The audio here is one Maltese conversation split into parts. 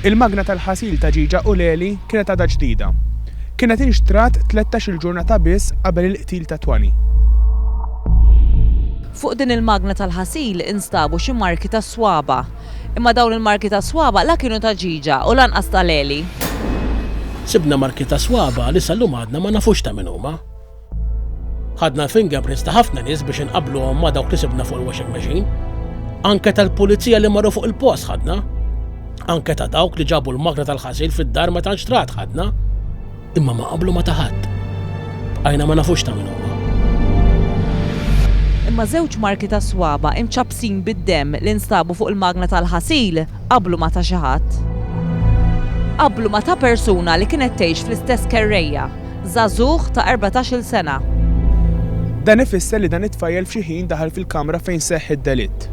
Il-magna tal-ħasil ta' ġieġa u l-għeli kienet għadha ġdida. Kienet inxtrat tlettax-il ġurnata biss qabel il-qtil ta' Twanny. Fuq din il-magna tal-ħasil instabu xi marki tas-swaba'. Imma dawn il-marki tas-swaba' la kienu ta' ġieġa u lanqas tal-għeli. Sibna marki ta' swaba' li sal-lum għadna ma nafux ta' min huma. Ħadna l-fingerprints ta' ħafna nies biex inqabbluhom ma' dawk li sibna fuq il-washing machine. Anke tal-pulizija li marru fuq il-post ħadna. Anke ta' dawk li ġabu l-magna tal-ħasil fid-dar meta nxtrat ħadna. Imma ma qablu ma ta' ħadd. Bqajna ma nafux ta' min huma. Imma żewġ marki ta' swaba' imċappsin bid-demm li nstabu fuq il-magna tal-ħasil qablu ma ta' xi ħadd. Qablu ma ta' persuna li kienet tgħix fl-istess kerrejja. żagħżugħ ta' erbatax-il sena. Dan ifisser li dan it-tfajjel f'xi ħin daħal fil-kamra fejn seħħ id-delitt.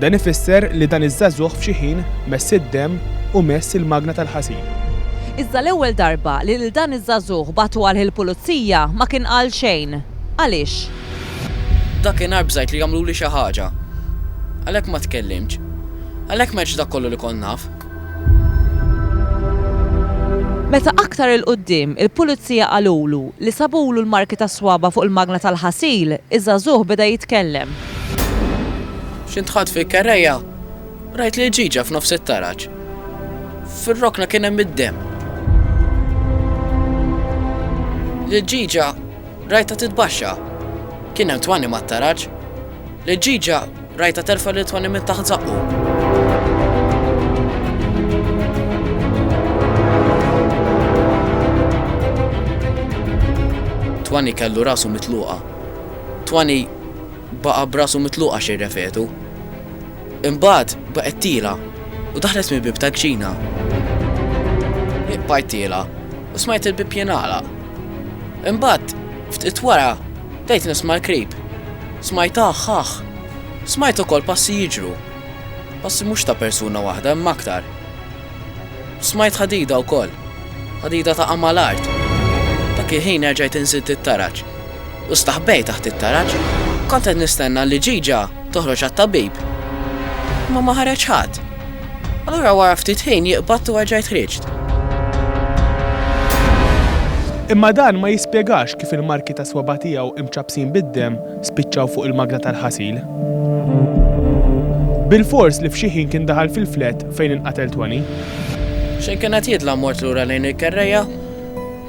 Dan ifisser li dan iż-żagħżugħ f'xi ħin mess id-demm u mess il-magna tal-ħasil. Iżda l-ewwel darba li lil dan iż-żagħżugħ bagħtu għal il-pulizija ma kien qal xejn. Għaliex? Dakinhar bżajt li għamluli xi ħaġa. Għalhekk ma tkellimtx. Għalhekk m'għedtx dak kollu li kont naf. Meta aktar 'il quddiem il-Pulizija qalulu li sabulu l-marki tas-swaba' fuq il-magna tal-ħasil, iż-żagħżugħ beda jitkellem. X'intħatt fil-kerrejja, rajt lil ġiġa f'nofs it-taraġ. Fir-rokna kien hemm id-demm. Lil ġiġa rajtha titbaxxa. Kien hemm twani mat-taraġ. Lil ġiġa Rajtha terfa' lil Toni minn taħt żaqqu. Toni kellu rasu mitluqa. Toni baqa' b'rasu mitluqa xejn refetu. Imbagħad baqgħet tiela' u daħlet mill-bieb tal-kċina. Hi bqajt tiela' u smajt il-bieb jingħalaq. Imbagħad, ftit wara, bdejt nisma' l-krib. Smajt aħ aħ. Smajt ukoll passi jiġru. Passi mhux ta' persuna waħda imma aktar. Smajt ħadida wkoll. Ħadida taqa' mal-art. Dak il-ħin erġajt inżidd it-taraġ. U staħbejt taħt it-taraġ. Kont qed nistenna li Ġiġa toħroġ għat-tabib. Imma ma ħareġ ħadd. Allura wara ftit ħin jie qbadt u erġajt ħriġt. Imma dan ma jispjegax kif il-marki tas-swaba' tiegħu imċappsin bid-demm spiċċaw fuq il-magna tal-ħasil. Bilfors li f'xi ħin kien daħal fil-flat fejn inqatel Toni. Xejn kien qed jidla' mort lura lejn il-kerrejja,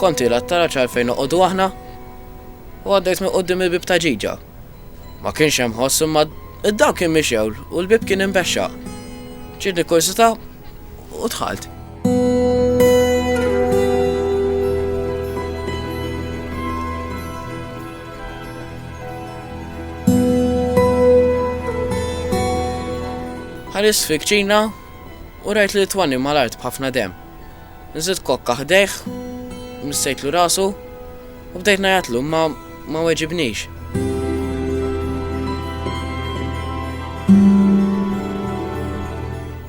kont qiegħda t-taraġ għalfejn noqogħdu aħna, u għaddejt minn quddiem il-bieb ta' ġiġa. Ma kienx hemm ħoss imma d-dawl kien mixewl u l-bieb kien imbexxaq. Ġietni kursita u dħalt. Ħaris fi kċina u rajt li twani mal-art b'ħafna dem. Nżilt kokka ħdejh, missejtlu rasu u bdejt ngħajjatlu imma ma weġibnix.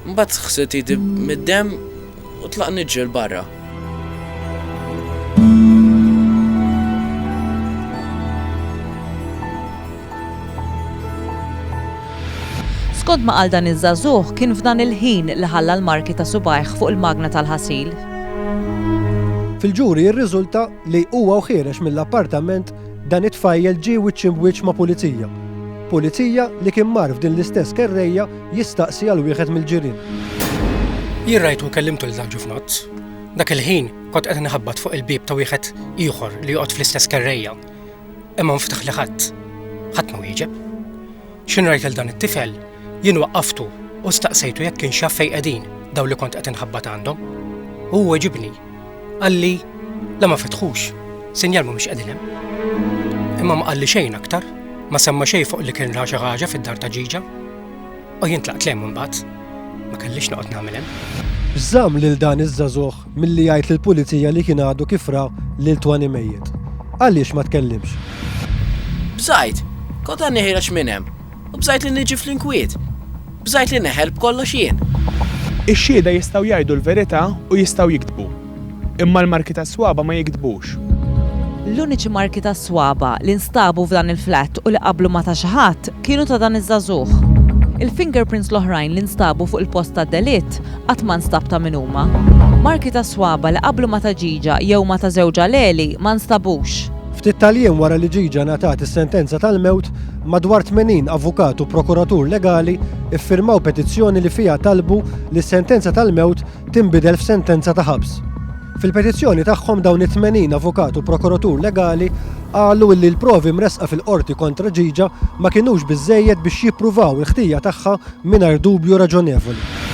Mbagħad ħsilt idi mid-demm u tlaq niġġi l-barra. Skont ma qal dan iż-żagħżugħ, kien f'dan il-ħin li ħalla l-marki ta' subgħajh fuq il-magna tal-ħasil. Fil-ġuri rriżulta li huwa u ħiereġ mill-appartament dan it-tfajjel ġie wiċċ imb'wiċċ ma' pulizija. Pulizija li kien mar f'din l-istess kerrejja jistaqsi għal wieħed mill-ġirien. Jien rajtu u kellimtu lil żagħżugħ f'nozz. Dak il-ħin kont qed inħabbat fuq il-bieb ta' wieħed ieħor li joqgħod fl-istess kerrejja. Imma nftaħ li ħadd, ħadd ma wieġeb. Xi ngħid lil dan it-tifel, jien waqqaftu u staqsejtu jekk kienx jaf fejn qegħdin dawn li kont qed inħabbat għandhom. U hu weġibni. Qalli, la ma fetħux, sinjal mhumiex qegħdin hemm. Imma ma qalli xejn aktar, ma semma xejn fuq li kien ra xi ħaġa fid-dar ta' ġiġa. U jien tlaqt lejn imbagħad. Ma kellix noqgħod nagħmel hemm. X'żamm lil dan iż-żagħżugħ milli jgħid lill-pulizija li kien għadu kif ra lil Twani mejjet? Għaliex ma tkellimx? Bżajt. Kont għadni ħiereġ minn hemm. U bżajt li niġi fl-inkwiet. Bżajt li neħel b'kollox jien. Ix-xhieda jistgħu jgħidu l-verità u jistgħu jigdbu. Imma l-marki tas-swaba' ma jigdbux. L-uniċi marki tas-swaba' li nstabu f'dan il-flat u li qablu ma ta' xi ħadd kienu ta' dan iż-żagħżugħ. Il-fingerprints l-oħrajn li nstabu fuq il-post tad-delitt qatt ma nstab ta' min huma. Marki tas-swaba' li qablu ma ta' Gigia jew ma ta' żewġha Leli ma nstabux. Ftit tal-jiem wara li Gigia ngħatat is-sentenza tal-mewt, madwar 80 avukat u prokuratur legali ffirmaw petizzjoni li fiha talbu li s-sentenza tal-mewt tinbidel f'sentenza ta' ħabs. Fil-petizzjoni tagħhom dawn it-80 avukat u prokuratur legali qalu illi l-provi mressqa fil-Qorti kontra Gigia ma kinux biżżejjed biex jippruvaw il-ħtija tagħha mingħajr dubju raġonevoli.